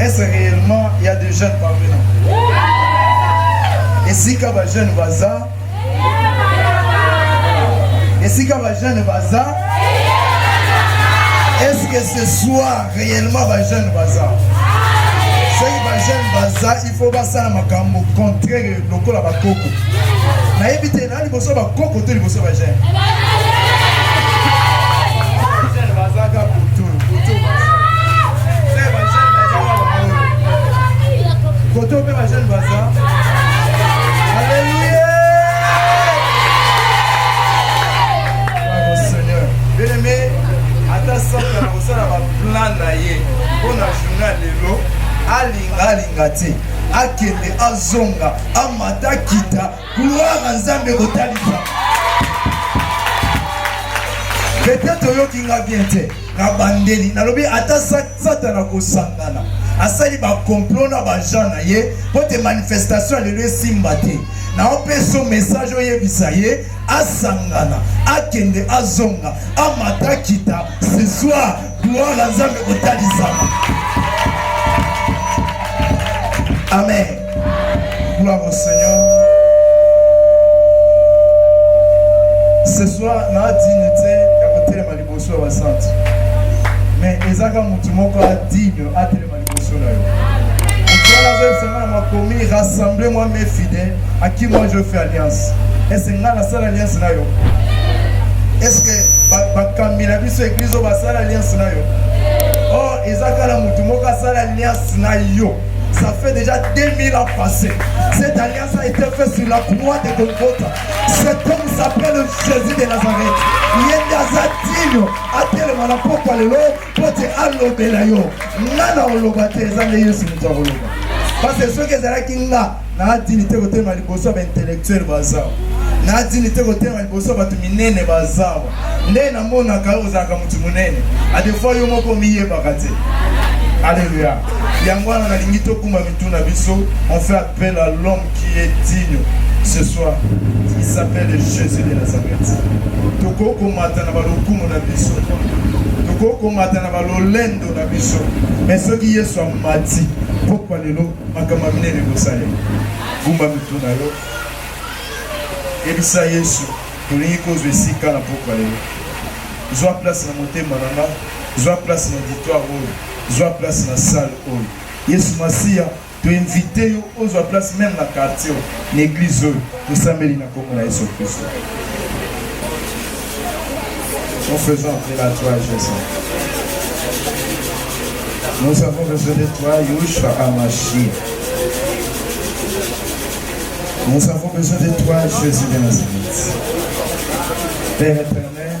Est-ce réellement il y a des jeunes parmi nous Et si quand les jeunes bazar Et si quand les jeunes bazar Est-ce que ce soir réellement les jeunes bazar soki bajene baza il faut basala makambo contraire lokola bakoko nayebi te Eza liboso ya ba koko to liboso ya ba jeune? Jeune baza ka butu, butu baza. Pe ba jeune baza ka bango. Kote oyo pe ba jeune baza. Alléluia! Bravo Seigneur. Bien aimé, ata Satan akosala ba plan na ye mpo na journée ya lelo, alinga alinga te, akende azonga, amata akita, Gloire à Nzambe kotalisa. Peut-être oyoki nga bien te. Na bandeli, nalobi ata satana kosangana. asali bakomplot na bajean na ye mpo te manifestation ya lelo esimba te naopesa yo message oyebisa ye asangana akende azonga amata kita ce soir Gloire na Nzambe kotalisama. Amen. Gloire au Seigneur. Ce soir, na digne te ya kotelema liboso ya basanti. Mais ezaka motu moko a digne atelema liboso na yo mosala zoyebisanga na makomi rassemble moi mes fidèles à qui moi je fais alliance ese ngai nasala alliance na yo eske bakambi na biso eglize oyo basala alliance na yo or oh, eza kala motu moko asala alliance na yo ça fait déjà 2000 ans passé cette alliance a été faite sur la croix de Golgotha cet homme s'appelle Jésus de Nazareth ye nde aza ntinio atelema na mpokwa lelo mpo te alobela yo nga na oloba te eza nde yesu moto akoloba parce soki ezalaki nga naadini te kotelema liboso ya baintellectuel bazawa naadini te kotelema liboso ya bato minene bazawa nde namonaka yo ozalaka moto monene adefois yo moko omiyebaka te alleluya yango wana nalingi tokuma mitu na biso Appelle à l'homme qui est digne ce soir. Il s'appelle Jésus de Nazareth. Tokoki komata na balokumu na biso, tokoki komata na balolendo na biso, me soki Yesu amati pokwa lelo, makambo ya minene ekosalema. Gumba mitu na yo, yebisa Yesu, tolingi kozwa esika na pokwa lelo. Zwa place na motema na nga, zwa place na auditoire oyo, zwa place na salle oyo. Yesu Masiya To invite yo ozwa place meme na quartier na eglise oyo tosambeli na kombo na Yesu Kristo. Nous faisons entrer la joie Jésus. Nous avons besoin de toi, Yeshua Amashia. Nous avons besoin de toi, Jésus de Nazareth. Père éternel,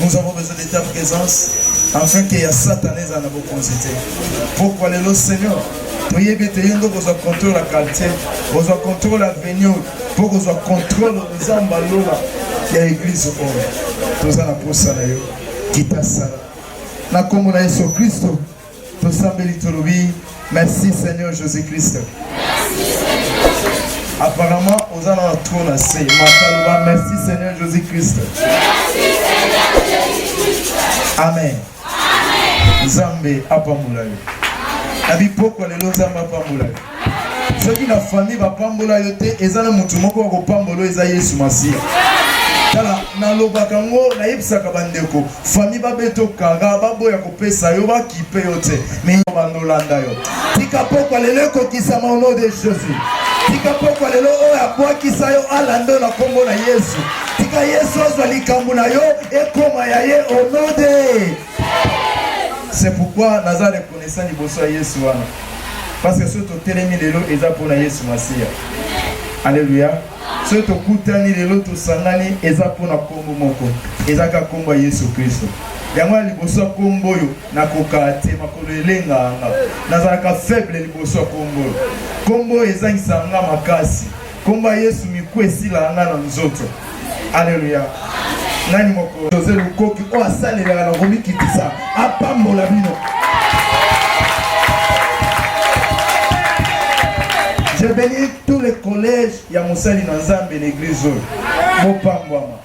Nous avons besoin de ta présence afin que ya Satan ezala na bokonzi te. Pourquoi lelo Seigneur toyebi ete ye nde okozwa contrôle ya quartier kozwa contrôle avenue mpo kozwa contrôle nzambe alola ya eglize oyo toza na mposa na yo kitasala na nkombo na yesu kristo Tosambeli tolobi merci Seigneur Jésus Christ. Merci Seigneur. Apparemment oza na trop na se mataloba merci Seigneur Jésus Christ. Merci Seigneur Jésus Christ. Amen. Amen. Nzambe apambola yo. Na bipokwa lelo Nzambe apambola yo. soki na famille bapambola yo te eza na motu moko akopambola eza yesu masiya tala nalobaka yango nayebisaka bandeko fami babeto kara baboya kopesa yo bakipe yo te mebanolanda yo tika pokwa lelo ekokisama au nom de jésus tika pokwa lelo oyo abwakisa yo alanda na nkombo na yesu tika yesu azwa likambo na yo ekoma ya ye au nom de C'est pourquoi naza reconnaissant liboso ya Yesu wana. Parce que soki totelemi lelo eza mpo na Yesu Masiya. Alléluia. Soki tokutani lelo tosangani eza mpo na nkombo moko. Eza kaka nkombo ya Yesu Kristo. yango ya liboso ya nkombo oyo nakokaa te makolo elenganga nazalaka faible liboso ya nkombo oyo nkombo oyo ezangisa nga makasi Kombo ya Yesu miku esila nga na nzoto. Aleluya. Nani moko Jose Lukoki oyo asalelaka na komikitisa apambola bino. Je bénis tous les collèges ya mosali na Nzambe na eglise oyo. Bopambwama.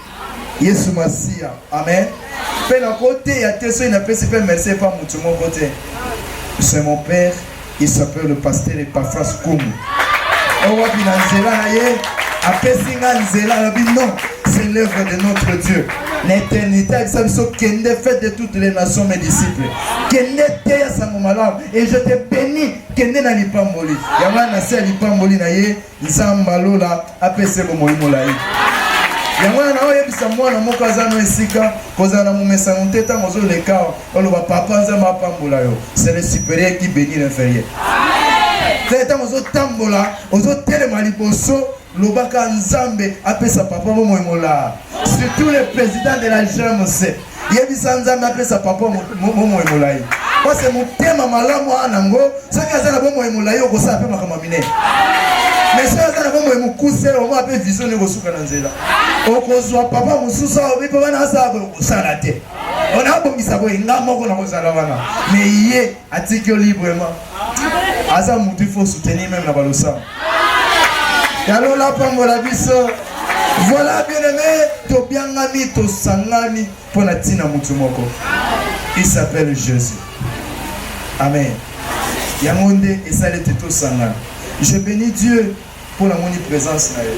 Yesu Masiya. Amen. Mpe nakoteya te soki napesi mpe merci epa motu moko te. C'est mon père, il s'appelle le pasteur Epaphras Kumu. Oyo wapi na nzela na ye apesi nga nzela alobi non, c'est l'œuvre de notre Dieu. na eternité ayebisa biso kende fete de toutes les nations mes disciples kende teya sango malamu et je te bénis kende na lipamboli yango wana na se ya lipamboli na ye Nzambe ya lola apesa ye bomoi molai. Yango wana naoyebisa mwana moko aza no esika kozala na momesano te ntango ozoleka awa oloba papa nzambe apambola yo c'est le supérieur qui bénit l'inférieur te ntango ozotambola ozotelema liboso lobaka nzambe apesa papa bomoi molaa surtout le président de la gmc yebisa nzambe apesa papa bomoi molai pase motema malamu aa nango soki aza na bomoi molai okosala mpe makambo ya minene mais soki aza na bomoi mokuse omwa mpe vision nde kosuka na nzela okozwa papa mosusu aobi mpe wana asala boye okosala te ona abongisa boye nga moko nakozala wana mais ye Atiki yo librement. Aza mutu faut soutenir même na balosa. Yalo la pambola biso. Voilà bien aimé, tobiangami tosangani mpo na ntina motu moko. Il s'appelle Jésus. Amen. Yango nde esali ete tosangana. Je bénis Dieu Po na moni presence na yo.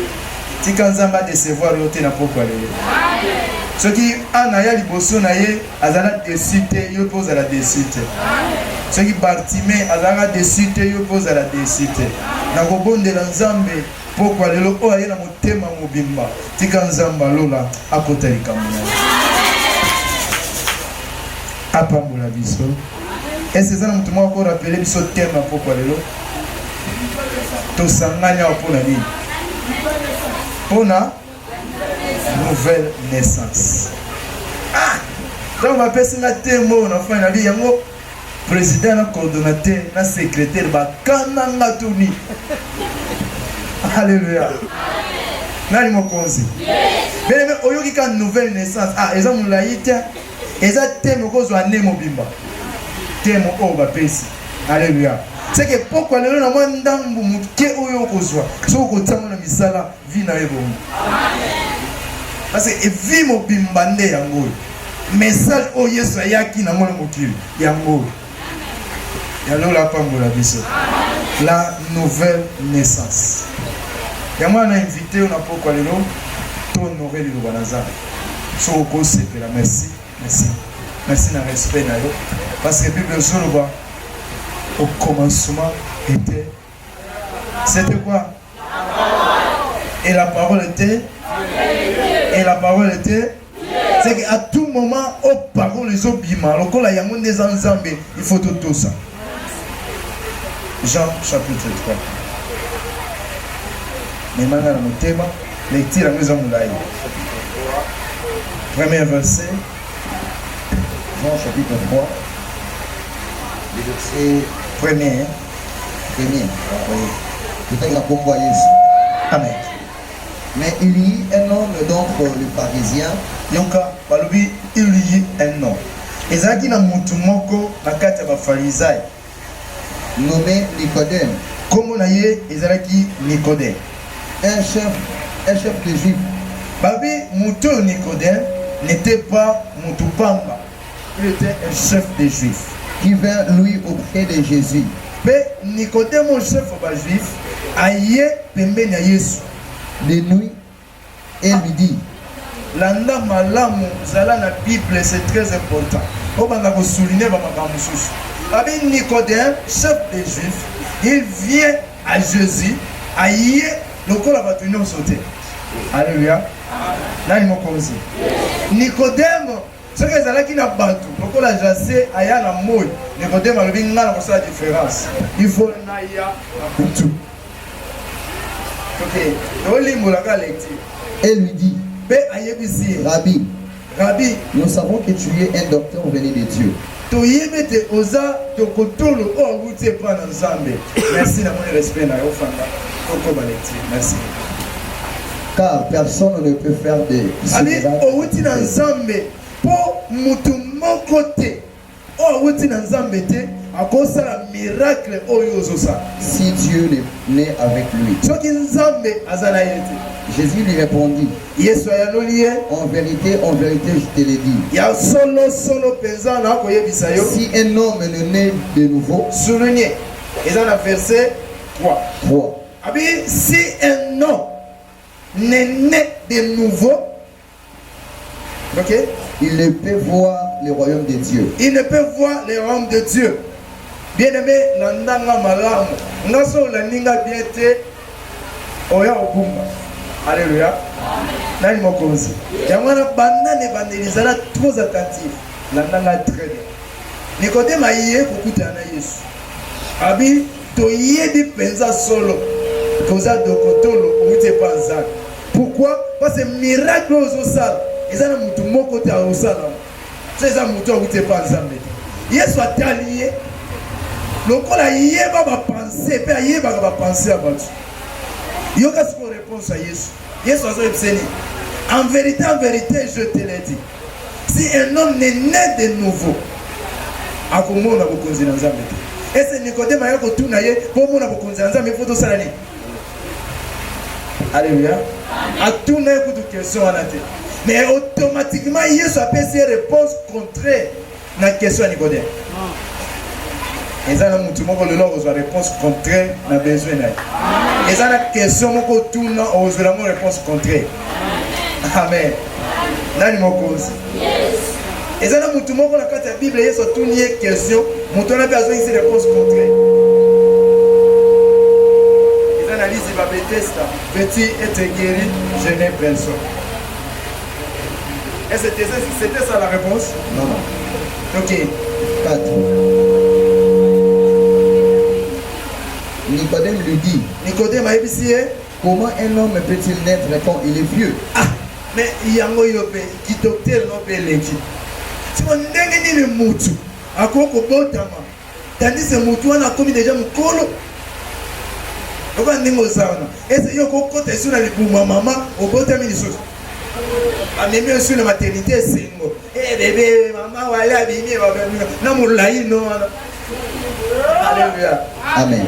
Tika Nzambe a decevoir yo te na pokwa lelo. Soki Anna aya liboso na ye azala deçu te, yo pe ozala deçu te. Soki Bartime azalaka deçu te, yo pe ozala deçu te. Nakobondela Nzambe pokwa lelo oyo aye na motema mobimba. Tika Nzambe alola akota likambo na yo. Apambola biso. Ese eza na moto moko akorapele biso tema pokwa lelo. tosangani awa mpo na nini mpo na nouvelle naissance ah! ntango bapesi nga temo na fai nabi yango président na coordonnateur na secrétaire bakana nga tuni alleluya nani mokonzi beleme oyoki ka nouvelle naissance ah eza molai te eza teme okozwa ane mobimba teme oyo bapesi aleluya seke pokwa lelo na mwa ndambu moke oyo okozwa soki okotiango na misala vi na yo ebongo parce evi mobimba nde yango oyo message oyo yesu ayaki nango na mokili yango oyo ya lola apambola biso la nouvelle naissance yango wana na invite yo na pokwa lelo to honore liloba na nzambe so okosepela merci merci merci na respect na yo parce que bible ezoloba au commencement était c'était quoi Et la parole était Et la parole était C'est qu'à tout moment, au parole les obima, lokola yango nde eza nzambe, il faut tout ça. Jean chapitre 3. Memanga na motema, lecture yango eza molai. Premier verset, Jean chapitre 3, verset premier. Amen. Peut-être la bombe à Yesu. Amen. Mais il y a un homme, donc euh, le pharisien. Yonka, balobi, il y a un homme. ezalaki na motu moko na kati ya bafarizai nommé nicodème nkombo na ye ezalaki nicodème un chef, un chef de juif babi motu oyo nicodème n'était pas motu pamba Il etait un chef des Juifs qui vint lui auprès de Jésus. Mpe Nikodemo, chef ya Bajuif, aye pembeni ya Yesu de nuit et lui dit, landa malamu, zala na Bible, c'est très important. Obanda kosouline bamakambo mosusu. Abi Nikodeme, chef des Juifs, il vient à Jésus, aye lokola bato nyonso te. Alléluia. Nani mokonzi? Nikodemo Soki ezalaki na batu lokola Jase aya na moi, Nikodeme alobi ngai nakosala difference, il faut naya na butu. Ok, tolimbola kaka lecture. Elle lui dit, mpe ayebisi ye, Rabbi, Rabbi, nous savons que tu es un docteur venu de Dieu. Toyebi ete oza tokotolo oyo awuti epa na Nzambe. Merci na moni respect na yo fanda. Tokoma lecture. Merci. Car personne ne peut faire des. Ami owuti na Nzambe po mutu moko te oyo awuti na Nzambe te akosala miracle oyo ozosala. Si Dieu n'est avec lui. Soki Nzambe aza na ye te. Jésus lui répondit. Yesu ayanoli ye, En verite, en verite, je te le dis, ya solo solo mpenza nakoyebisa yo, si un homme ne naît de nouveau, souligne eza na verset 3 3. abi si un homme ne naît de nouveau ok Il ne peut voir le royaume de Dieu. il ne peut voir le royaume de Dieu. Bien-aimé, na ndanga malamu. Nga so olandi nga bien te, oya okumba aleluya nani mokonzi yango wana banda na ebandeli zala trop attentif landanga très bien nikodeme aye kokutana na yesu abi toyebi mpenza solo koza dokotolo outi epa nzambe pourkui parce miracle oyo ozosala eza na motu moko te aosala so eza moto awuti epa nzambe te yesu atali ye lokola ayeba bapense mpe ayebaka bapense ya bato yoka sikoyo réponse ya yesu yesu azoyebisa nini en vérité en vérité je te le dis si un homme ne naît de nouveau akomona bokonzi na nzambe te ese nikodeme aya kotuna ye mpo omona bokonzi ya nzambe mpo tosala nini Alléluia. Atuna ye kutu question wana te. Mais automatiquement Yesu apesi ye réponse contraire na question ya Nikodeme. eza na motu moko lelo okozwa réponse contraire na besoin na ye eza na question moko otuna okozwela yango réponse contraire amen nani mokonzi eza na motu moko na kati ya bible yesu atuni ye question motu wana mpe azongisi réponse contraire eza na lisi ba betesta petit ete guéri je n'ai personne et c'était c'était ça la réponse non non ok quatre Nicodème lui dit Nicodème ayebisi ye Comment un homme peut-il naître quand il est vieux? Ah, mais yango yo pe ki docteur no pe leki. Siko ndenge nini mutu akoki kobotama tandis que mutu wana akomi deja mokolo okoka ndenge oza wana ese yo okokota esu na libumu ya mama obotami lisusu amemi esu na maternité esengo e bebe mama wale abimi na molayi no wana alleluya amen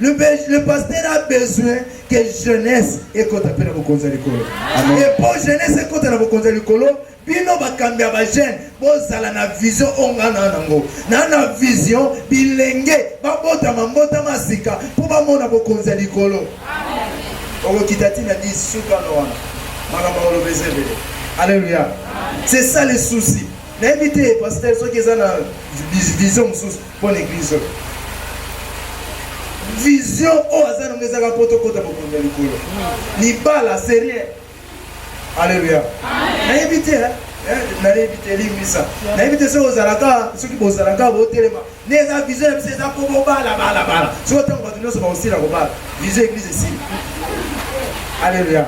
Le, le pasteur a besoin que jeunesse ekota mpe na bokonzi ya likolo e mpo jeunesse ekota na bokonzi ya likolo bino bakambi ya bajeune bozala na vision oyo ngai naa nango naa na vision bilenge babotama mbotama ya sika mpo bamona bokonzi ya likolo okokita ntina di sukano wana makambo akoloba eza ebele alleluya c'est ça le souci nayebi te pasteur soki eza na vision mosusu Pona eglise oyo. Vision oyo aza nango ezaka mpo tokota bokonzi ya likolo. Libala c'est rien. Alléluia. Nayebi te hein. Eh, nayebi te elimisa nayebi te soki ozalaka soki bozalaka botelema nde eza vision ya biso eza mpo bobala bala bala soki ntango bato nyonso bakosila kobala vision eglise esili alleluia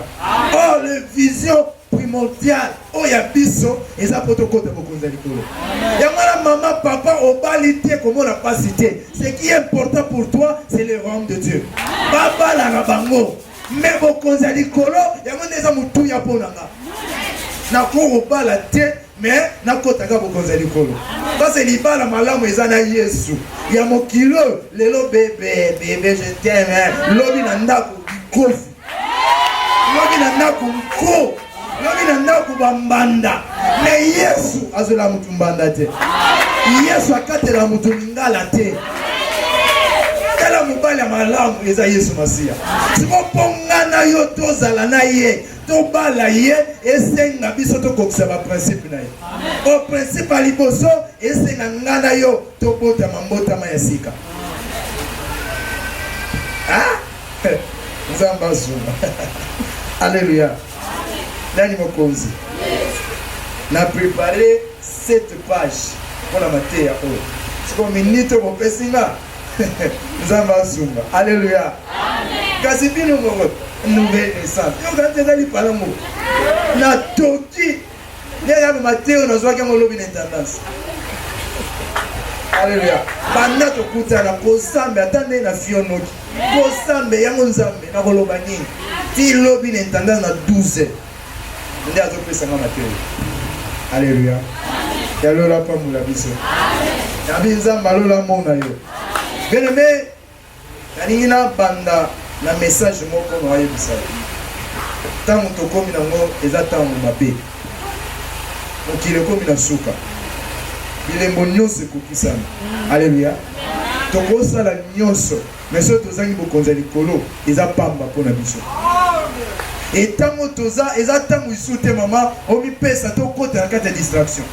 oh le vision primordial oyo ya biso eza mpo tokota bokonzi ya likolo yango wana mama papa obali te komona mpasi te ce qui est important pour toi c'est le royaume de dieu babalaka bango me bokonzi ya likolo yango nde eza motuya mpo na nga nakokobala te me nakotaka bokonzi ya likolo pase libala malamu eza na yesu ya mokili oyo lelo bebe bebe je teme lobi na ndako kofi lobi na ndako mpo lobi na ndako bambanda me yesu azwela motu mbanda te yesu akatela motu lingala te tala mobali ya malamu eza yesu masiya siko mpo nga na yo tozala na ye tobala ye esenga biso tokokisa baprincipe na ye o principe ya liboso esenga nga na yo tobotama mbotama ya sika Nzambe azua. Alléluia. Nani mokonzi? Na préparer cette page pour la mateya oyo. Siko minute bopesi nga Nzambe azunga. Alléluia. Kasi bino moko nouvelle naissance. Yo kati ezali palango. Na toki Nde ya mateyo nazwaki yango lobi na intendance. Alléluia. Banda tokutana kosambe ata nde na fionoki. Kosambe yango Nzambe na koloba nini? Ti lobi na intendance na 12. Nde azopesa nga mateyo. Alléluia. Ya lola pambola biso. Amen. Nabi Nzambe alola mona yo. Bien aimé, Nalingi na banda na message moko na yebisa yo tango tokomi na ngo eza tango mabe mokili ekomi na suka bilembo nyonso ekokisami aleluya tokosala nyonso me soki tozangi bokonzi ya likolo eza pamba mpo na biso etango toza eza ntango isu te mama omipesa tokota na kati ya distraction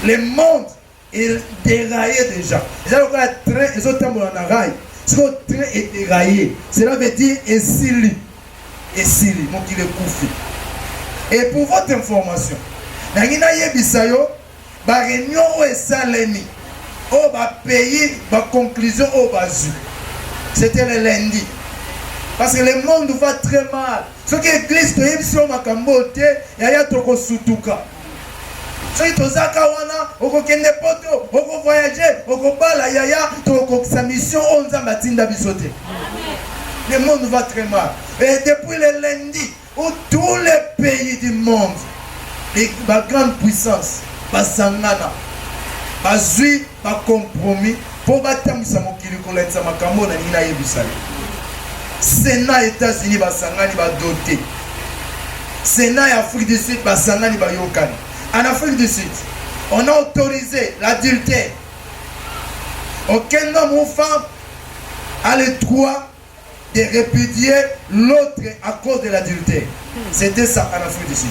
le monde Il deraille dejà. Eza lokola train ezo tambola na rail. Siko train e deraille. Cela veut dire esili. Esili mokili ekufi. Et pour votre information, nangi nayebisa yo ba réunion oyo esalemi oyo ba pays ba conclusion oyo bazwi c'était le lundi parce que le monde va très mal soki église toyebisi yo makambo oyo te yaya tokosutuka soki tozaka wana okokende poto oko voyage okobala yaya tokokokisa mission oyo nzambe atinda biso te le monde va très mal et depuis le lundi où tous les pays du monde ba grande puissance basangana bazwi ba compromis mpo batambwisa mokili kolakisa makambo oyo nalingi nayebisa yo sena ya états-unis basangani badote sena ya afrique du sud basangani bayokani en afrique du sud on a autorisé l'adultère aucun homme ou femme a le droit de repudier l'autre à cause de l'adultère. C'était ça en Afrique du Sud.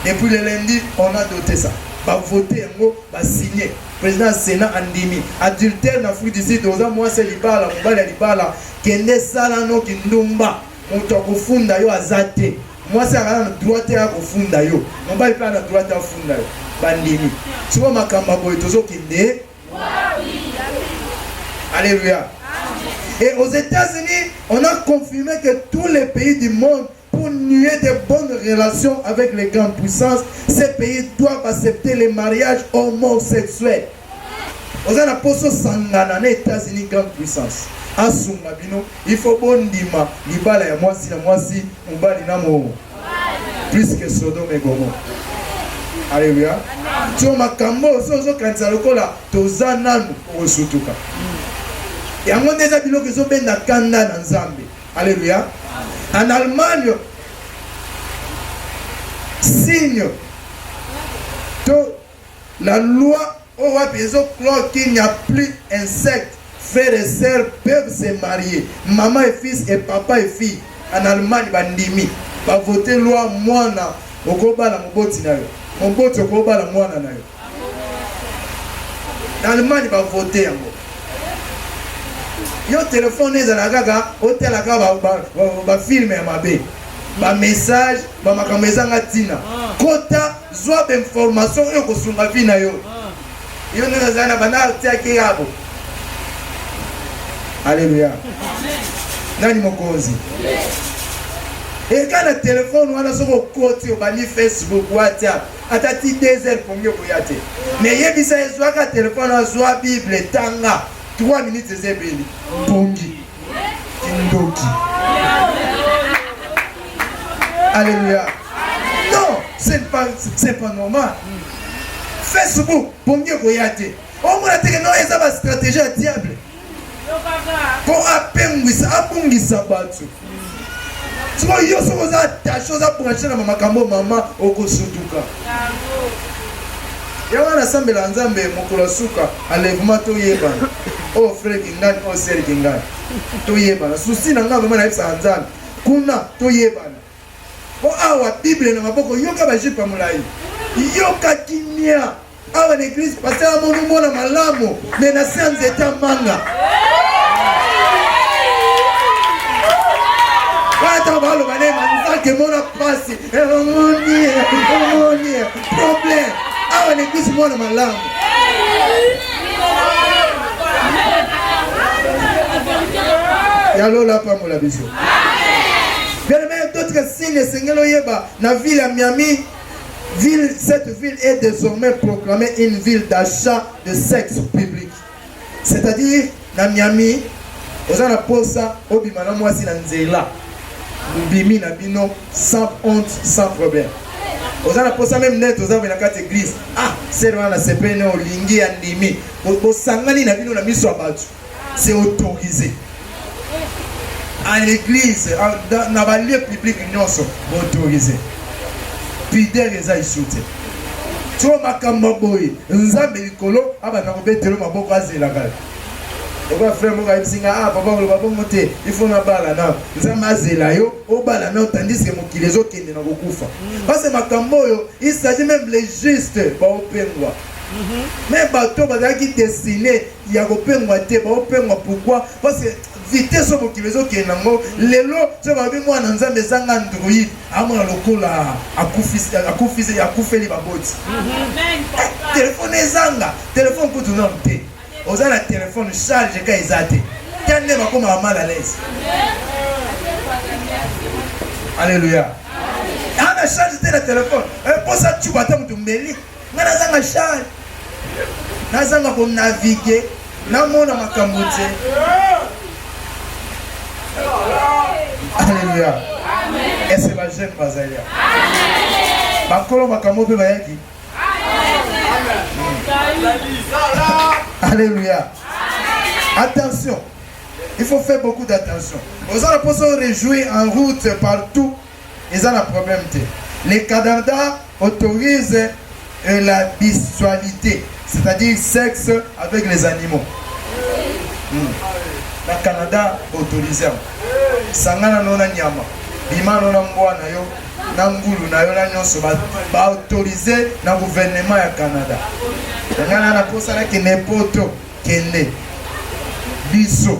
Depuis le lundi, on a doté ça. Ba voté yango, ba signé. Président Sénat andimi. Adultère en Afrique du Sud, oza mwasi libala, mobali libala, kende sala no kindumba. Moto akofunda yo aza te. Mwasi akala na droit te akofunda yo. Mobali mpe na droit te afunda yo. Bandimi. Sikoyo makambo boye tozokende Alléluia. Et aux États-Unis, on a confirmé que tous les pays du monde, pour nuer de bonnes relations avec les grandes puissances, ces pays doivent accepter les mariages homosexuels. Aux a na poso sangana na États-Unis grande puissance. Asuma bino, il faut bondima libala ya mwasi na mwasi, mobali na mo plus que Sodome et Gomorrhe. Alléluia. Tu as makambo ozo kanisa lokola toza nanu osutuka. Yango nde eza biloko ezo benda kanda na Nzambe. Alléluia. En Allemagne signe to la loi Oyo wapi ezo clore qu'il n'y a plus un secte frère et sœur peuvent se marier maman et fils et papa et fille en Allemagne ba ndimi ba voter loi mwana okobala moboti na yo moboti okobala mwana na yo na Allemagne ba voter yango yo telefone ezala kaka otala kaka bafilme ya mabe bamessage bamakambo ezanga ntina kota Zwa ba informations oyo ekosunga vie na yo. Yo nde nazali na bana atiaki yabo. Alléluia. Nani mokonzi? Eka na telefone wana soki okoti obandi Facebook, WhatsApp, ata ti deux heures pongi okoya te. Me yebisa ezwaka telefone azwa Bible tanga 3 minutes eza ebeli pongi. kindoki aleluya non c'est pas, c'est pas normal facebook pongi ekoya te omona teke no eza bastratégie ya diable mpo apengwisa abungisa bato sikoyo yo soki oza attache oza branche na makambo mama okosutuka Yawa na sambela nzambe mokolo ya suka enlèvement toyebana o oh, frère kingani o oh, sœur kingani toyebana susi na ngai vraiment nayebisaka nzambe kuna toyebana po awa bible na maboko yoka bajipe ya molai yoka kimia awa na eglise paster amoni mwana malamu me na se ya nzete ya manga ata baloba ne manzaka emona mpasi emoni emoni problème awa na eglise mwana malamu ya lola apambola biso bien aime totika signe esengeli oyeba na ville ya miami Ville, cette ville est désormais proclamée une ville d'achat de sexe public. C'est-à-dire, na Miami, oza na posa obima na mwasi na nzela mbimi na bino sans honte sans problème oza na posa meme net oza na kati église ah sere wana sepene olingi ya ndimi bosangani na bino na miso ya bato c'est autorisé à l'église na balie publique nyonso autorisé pidere eza isu te tyo makambo boye nzambe likolo abanda kobetelo maboko azelaka okoya frère moko ayebisi nga ah papa koloba bongo te ifo nabala nao nzambe azela yo obala nao tandiske mokili ezokende na kokufa parce makambo oyo il s'agit même les juste baopengwa me bato bazalaki destine ya kopengwa te baopengwa pourkui parce que vitesse oyo mokili ezokende yango lelo soki balobi mwana nzambe ezanga android amona lokola akufisi akufeli baboti eh, telefone ezanga telefone kutu nano te oza na telefone charge ka eza te ta nde bakomaka mal à l'aise alleluya ana charge te na telefone mposa eh, cuba ata moto meli Nga nazanga char, nazanga ko naviguer, namona makambo te. Alléluia. Est-ce que les jeunes bazali ya? Bakolo makambo mpe bayaki. Alléluia. Attention. Il faut faire beaucoup d'attention. Aux alentours, on réjouit en route partout eza na problème te le Canada autorise euh, la bisualité c'est-à-dire sexe avec les animaux hmm. na Canada autorise sangana nona nyama bima nona mbwa na yo na ngulu na yo na nyonso baautorize ba na guvernema ya canada yangana naposalaki nepoto kende biso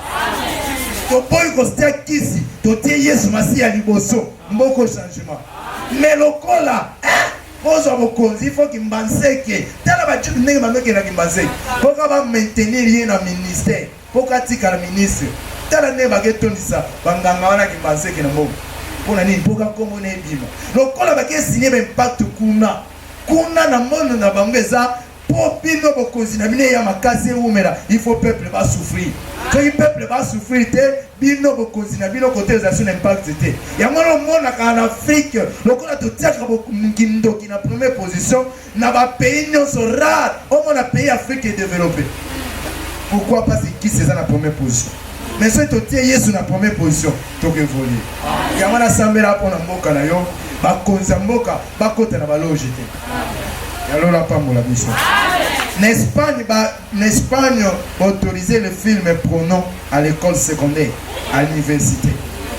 toboyi kostia kisi totie yesu masiya liboso mboko changement me lokola ozwa bokonzi ifo kimbanseke tala bajude ndenge bamekela kimbanseke mpoka bamaintenir ye na ministère mpoka atikala ministre tala ndenge baketondisa banganga wana kimbanseke na mbongo mpo na nini mpoka nkombo na ebima lokola bakesinie baimpact kuna kuna na mono na bango eza Po bino bokonzi na bino eya makasi ewumela il faut peuple ba souffrir soki peuple ba souffrir te bino bokonzi na bino kote eza sur l'impact te yango wana omonaka na Afrique lokola totiaka kindoki na première position na ba pays nyonso rare omona pays Afrique est développé pourquoi pas ekisi eza na première position mais soki totie Yesu na première position tokevolie yango wana sambela mpo na mboka na yo bakonzi ya mboka bakota na baloge te ya lolo apambola biso na espagne ba na espagne autorise le film pronom à l'école secondaire à l'université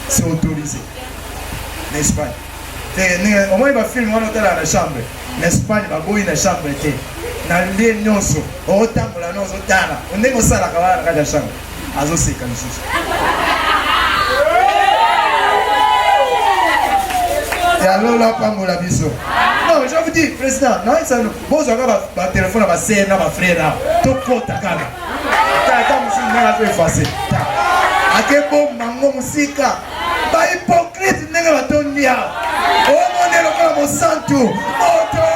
c'est autorisé na espagne te omoni bafilme wana otalaka na chambre na espagne baboyi na chambre te na nde nyonso okotambola no ozotala ndenge osalaka wana na kati ya chambre azoseka lisusu ya lola apambola biso non je vous dis président naisano bozwaka batelefone ya basere na bafrere awa tokota kaka tata mosusu ndenge azo efase akebomba ngo mosika bahypocrite ndenge batondi awa omone lokola mosantu moto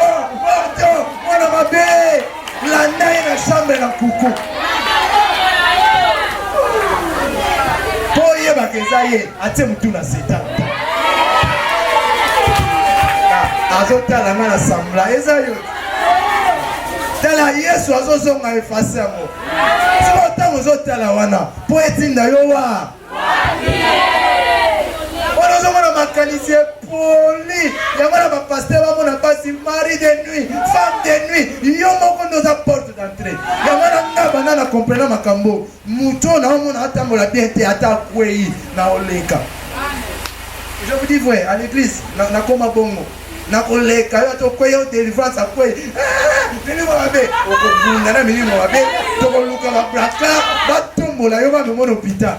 moto mwana mabe Landa ye na chambre na kuku. Po oyebaka eza ye atie motu na seta. Ah, azotala nga na sambla eza yo tala yesu azozonga efase yango siko ntango ozotala wana mpo etinda yo wa wana ozomona makanisi epoli yango na bapaster bamona mpasi mari de nuit femme de nuit yo moko nde oza porte d'entrée yango na nga banda na comprena makambo moto oyo naomona atambola bien te ata akwei na oleka je vous dis vrai à l'église nakoma bongo nakoleka yo tokweya o delivrance akwei eh, milimo mabe okobunda na milimo mabe tokoluka babraka batombola yo bamemona hôpital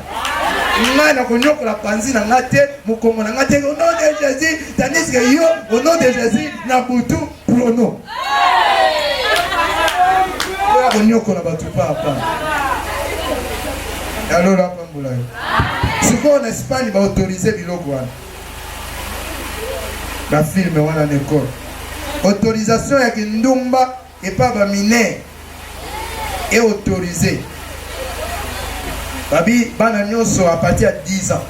ngai nakonyokola panzi na ngai te mokongo na ngai te au nom de jésus tandis que yo au nom de jésus na butu prono oyo akonyokola bato papa yalola apambola yo sikoyo na espagne baautorize biloko wana na filme wana nekor autorisation ya kindumba epa baminere e autorise babi bana nyonso a partir ya 10 ans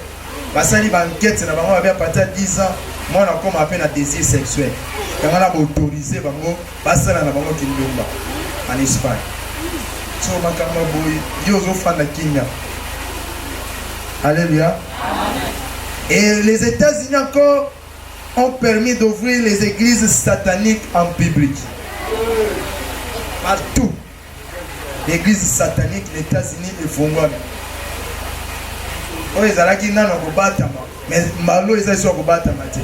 basali baankete na bango babi a partir ya 10 ans mwana akoma mpe na désir sexuel yango na baautorise bango Basala na bango kindumba en Espagne. So makambo ya boye yo ozofanda kimia. Alléluia. Et les États-Unis encore ont permis d'ouvrir les églises sataniques en public. Partout. Eglise satanique na Etats-Unis efongwami. Oyo ezalaki nano kobatama, mais mbalo eza esi kobatama te.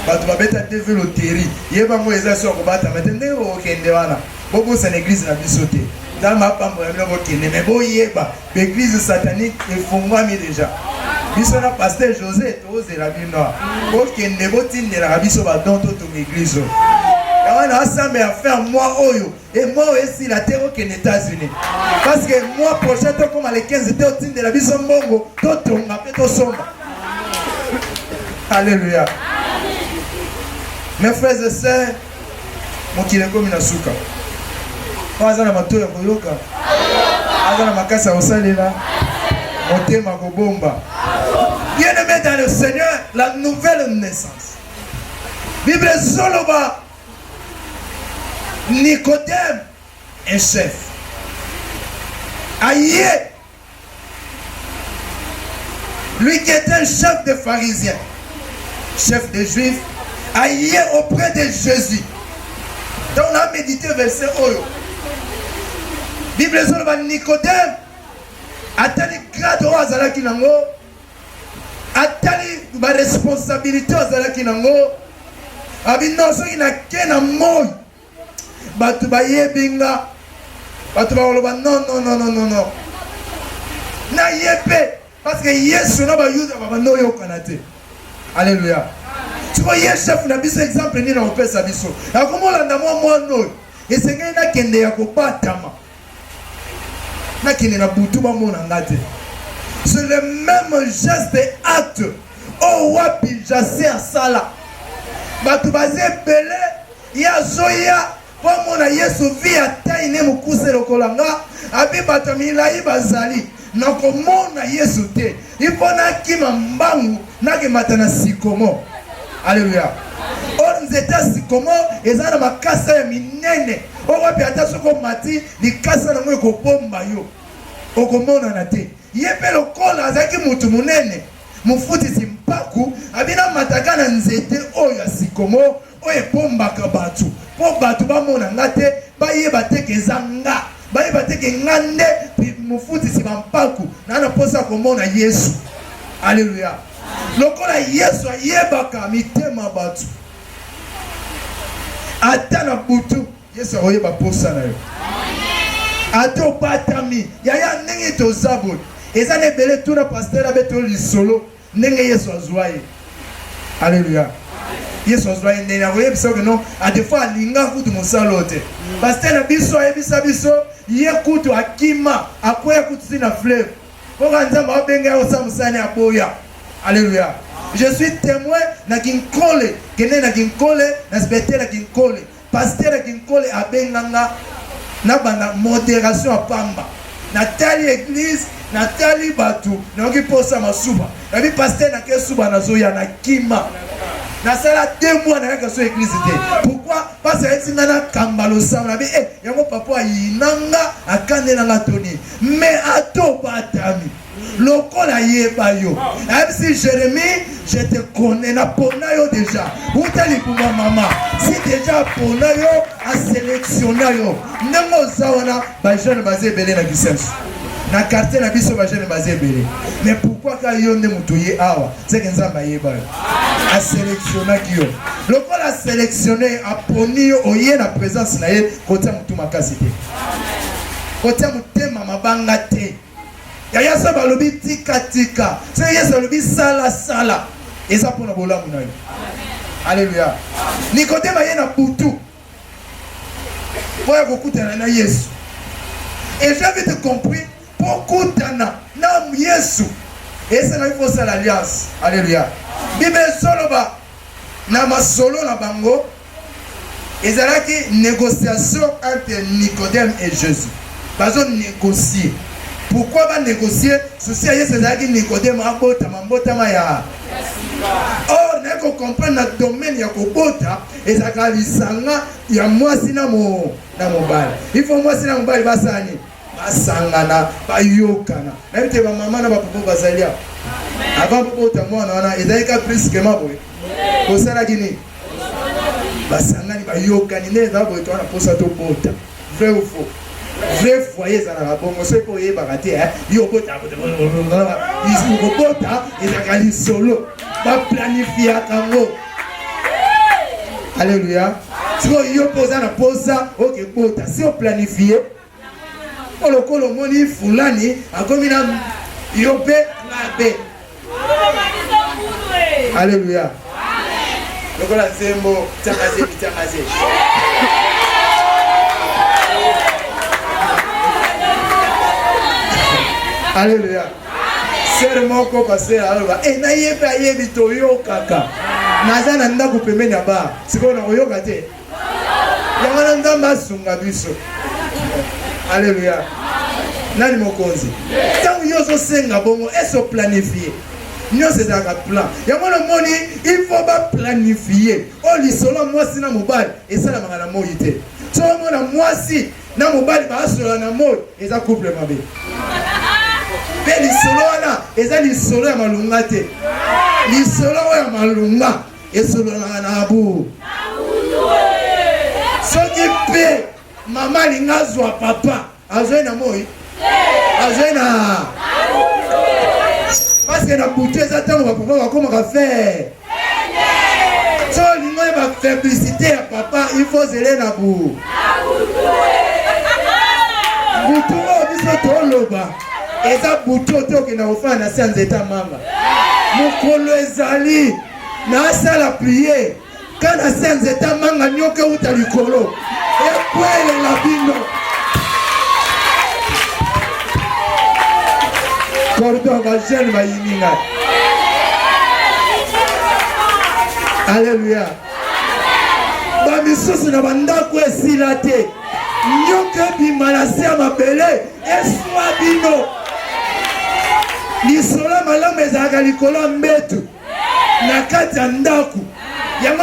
Bato babeta te velo teri, ye bango eza esi kobatama te. Ndenge okokende wana, bobosana eglise na biso te. Nzambe apambola bino bokende, mais boyeba eglise satanique efongwami deja. biso na paster josé tozela bino bokende botindelaka biso badon totonga eglize oyo yango na asambela fin mwa oyo Et moi aussi la terre aux États-Unis. Parce que moi prochain toi comme les 15 toi tu de la bison mongo, toi ton ma peto son. Alléluia. Mes frères et sœurs, mon qui est comme une souka. Moi azana mato ya koyoka. Azana makasa osalela. Motema kobomba. Bien aimé dans le Seigneur, la nouvelle naissance. Bible Zoloba Nicodème, un chef, aïe, lui qui était un chef des pharisiens, chef des juifs, aïe auprès de Jésus. Donc on a médité verset Oyo. Bible ezoloba Nicodème atali grade oyo azalaki nango atali baresponsabilité azalaki nango abino soki nake na moi bato bayebi nga bato bakoloba non non non non non naye mpe parce que yesu na bayuda babanda oyokana te alleluya siko ye chef na biso exemple nini akopesa biso nakomolanda mwa mwana oyo esengeli nakende ya kobatama nakende na butu bamona nga te c'est le même geste et acte oyo wapi jase asala bato baza ebele ye azoya mpo amona yesu vi ya tai ne mokuse lokola nga abi bato milai bazali nakomona yesu te il faut nakima mbangu nakemata na sikomo aleluya or nzete ya sikomo eza na makasa ya minene okopi ata soki omati likasa nango ekobomba yo okomonana te ye mpe lokola azalaki motu monene mofutisi mpaku abina mataka na nzete oyo ya sikomo oyo ebombaka bato mpo bato bamona nga te bayeba te ke eza nga bayeba te ke nga nde mofutisi bampaku naa na mposa ya komona yesu aleluya lokola yesu ayebaka mitema bato ata na butu yesu akoyeba mposa na yo ata obatami yaya ndenge toza boye eza na ebele tuna pastere abe to lisolo Ndenge Yesu azua ye. Alleluia. Yesu azua ye ndenge akoyebisa oyo non, a des fois alinga kutu mosala oyo te. Pasteur na biso ayebisa biso ye kutu akima, akweya kutu ti na fleuve. Oka Nzambe abenga ye osala mosala ne aboya. Alleluia. Je suis temoin na Kinkole, kende na Kinkole, na Sbetela Kinkole. Pasteur Kinkole abenga nga na banda moderation ya pamba. Natali eglise, natali batu, nayoki posa masuba. Nabi pasteur na ke suba nazoya na kima. Nasala deux mois na yaka so eglise te. Pourquoi? Parce que ayeti nga na kamba losambo nabi eh yango papa ayinanga akanela nga toni. Mais ato batami. lokola ayeba yo ayebisi jérémie je te connais napona yo déjà uta libuma mama si déjà apona yo aselektiona yo ndenge oza wana bajeune baza ebele na bisenso na quartier na biso bajeune baza ebele mais pourkui ka yo nde moto ye awa seke nzambe ayeba yo aselektionaki yo lokola aselektione aponi yo oye na présence na ye kotia motu makasi te kotia motema mabanga te Yaya Saba alobi tika tika, soki Yesu alobi sala sala, eza mpo na bolamu na yo. Aleluya. Nikodema ye na butu mpo ya kokutana na Yesu et j'avais te compris mpo kutana na Yesu esenaki kosala alliance. Aleluya. Bible ezoloba na masolo na bango ezalaki négociation entre Nicodème et Jésus bazo négocier pourquoi ba négocier souci ya Yesu ezalaki Nicodème abotama mbotama ya or naye kocomprendre na domaine ya kobota ezalaka lisanga ya mwasi na mobali il faut mwasi na mobali basala nini basangana bayokana nayebi te bamama na bapopo bazali awa avant bobota mwana wana ezalaki ka brusquement boye bosalaki nini basangani bayokani nde ezala boye towana mposa tobota vrai ou faux vrai foyer ezalaka bongo soki oyebaka te eh, yo obota kobota ezalaka lisolo baplanifiaka yango alleluya sikoyo yo mpo oza na mposa okebota si oplanifie mpo lokola omoni fulani akomi na yo mpe mabe aleluya lokola nzembo tiakaze bitiakaze aleluya sere moko pasera aloba e nayebi ayebi toyokaka naza na ndako pembeni ya bar sikoyo nakoyoka te yango wana nzambe asunga biso aleluya nani mokonzi ntango yo ozosenga bongo ese oplanifie nyonso ezalaka plan yango wana omoni il faut baplanifie oyo lisolo ya mwasi na mobali esalamaka na moi te so omona mwasi na mobali baasolola na moi eza couple mabe mpe lisolo wana eza lisolo ya malonga te lisolo oyo ya malonga esololaka na abu soki mpe mama alingi azwa papa azwai na moi azwai na paske na butu eza ntango bapapa bakomaka fere so olingi oye bafeblisite ya papa ifo ozele na bu butu oyo biso toloba eza butu ote okenda kofanda na se ya nzete ya manga mokolo ezali nasala prie ka na se ya nzete ya manga nyoka euta likolo ekwelela bino cordon bajeune bayini ngai aleluya bamisusu na bandako esila te nyoka ebima na se ya mabele eswa bino lisolo ya malamu ezalaka likolo ya mbetu na kati ya ndako yango